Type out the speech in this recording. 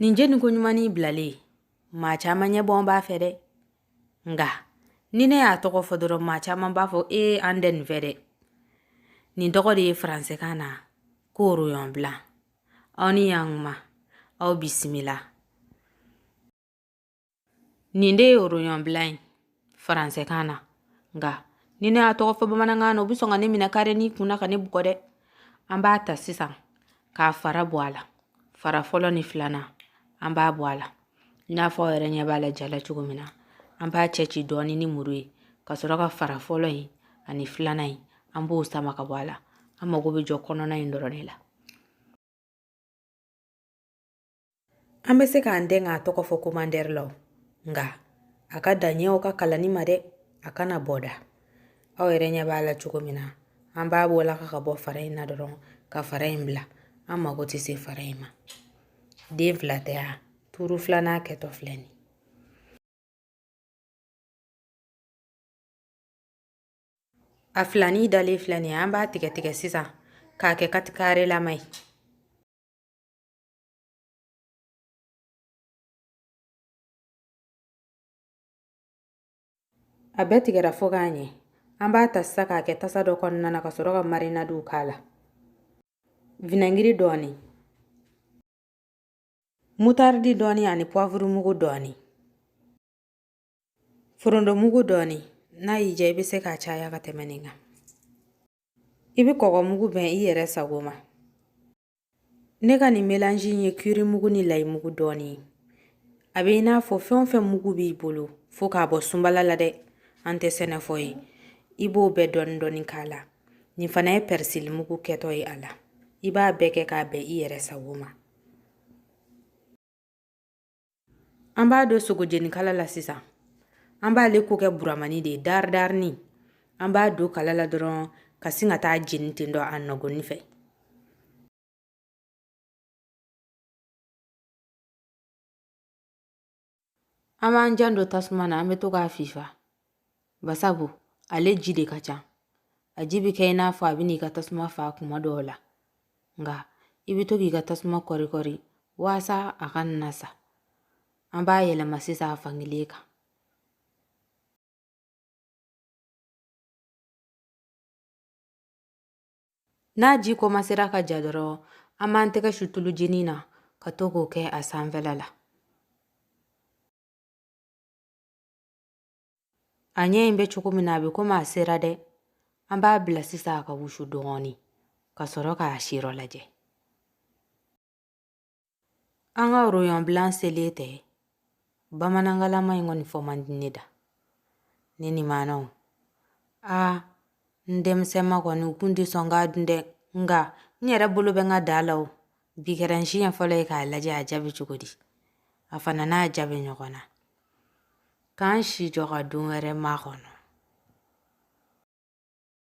nin jeni ko ɲuman nin bilalen maa caman ɲɛbɔ b'a fɛ dɛ nka ni ne y'a tɔgɔ fɔ dɔrɔn maa caman b'a fɔ e an tɛ nin fɛ dɛ nin tɔgɔ de ye faransɛkan na ko rognon blanc aw ni yan kuma aw bisimila nin de ye rognon blanc ye faransɛkan na nka ni ne y'a tɔgɔ fɔ bamanankan na u bɛ sɔn ka ne minɛ kare nin kun na ka ne bugɔ dɛ an b'a ta sisan k'a fara bɔ a la fara fɔlɔ ni filanan an b'a bɔ a la i n'a fɔ aw yɛrɛ ɲɛ b'a la ja la cogo min na an b'a cɛ ci dɔɔni ni muru ye ka sɔrɔ ka fara fɔlɔ in ani filanan in an b'o sama ka bɔ a la an mago bɛ jɔ kɔnɔna in dɔrɔn de la an bɛ se k'an dɛmɛ k'a tɔgɔ fɔ commentaire la nka a ka daɲɛw ka kalanni ma dɛ a kana bɔ da aw yɛrɛ ɲɛ b'a la cogo min na an b'a bɔla ka bɔ fara in na dɔrɔn ka fara in bila an mago tɛ se fara in ma den fila tɛ yan turu filanan kɛtɔ filɛ nin a filani dalen filɛ nin ye an b'a tigɛ tigɛ sisan k'a kɛ katikare lama ye A bɛɛ tigɛra fo k'a ɲɛ an b'a ta sisan k'a kɛ tasa dɔ kɔnɔna na ka sɔrɔ ka marinadiw k'a la vinɛgiri dɔɔni mutaridi dɔɔni ani puwavurumugu dɔɔni Foronto mugu dɔɔni n'a y'i diya i bɛ se k'a caya ka tɛmɛ nin kan i bɛ kɔgɔ mugu bɛn i yɛrɛ sago ma ne ka nin melange in ye kiri mugu ni layi mugu dɔɔni ye a bɛ i n'a fɔ fɛn o fɛn mugu b'i bolo fo k'a bɔ sunbala la dɛ an tɛ sɛnɛfɔ ye i b'o bɛɛ dɔɔni dɔɔni k'a la nin fana ye pɛrisili mugu kɛtɔ ye a la i b'a bɛɛ kɛ k'a bɛn i yɛrɛ sago ma An b'a don sogo jenikala la sisan an b'ale ko kɛ buramani de ye daridarinin an b'a don kala la dɔrɔn ka sin ka t'a jeni ten dɔ a nɔgɔni fɛ an b'an janto tasuma na an bɛ to k'a fifa Basabu ale ji de ka ca a ji bɛ kɛ i n'a fɔ a bɛ n'i ka tasuma faa kuma dɔw la nka i bɛ to k'i ka tasuma kɔrikɔri walasa a kana sa an b'a yɛlɛma sisan a fan kelen kan n'a ji kɔmasera ka ja dɔrɔn an b'an tɛgɛ su tulu jinin na ka to k'o kɛ a sanfɛla la a ɲɛ in bɛ cogo min na a bɛ komi a sera dɛ an b'a bila sisan a ka wusu dɔɔnin ka sɔrɔ k'a siyɔrɔ lajɛ an ka rognon blanc selen tɛ bamanankanlama in kɔni fɔ man di ne da ne ni maanaw aa n denmisɛnma kɔni n kun tɛ sɔn k'a dun dɛ nka n yɛrɛ bolo bɛ n ka da la o bi kɛra n siɲɛ fɔlɔ ye k'a lajɛ a diya bɛ cogo di a fana n'a diya bɛ ɲɔgɔn na k'an si jɔ ka don wɛrɛ makɔnɔ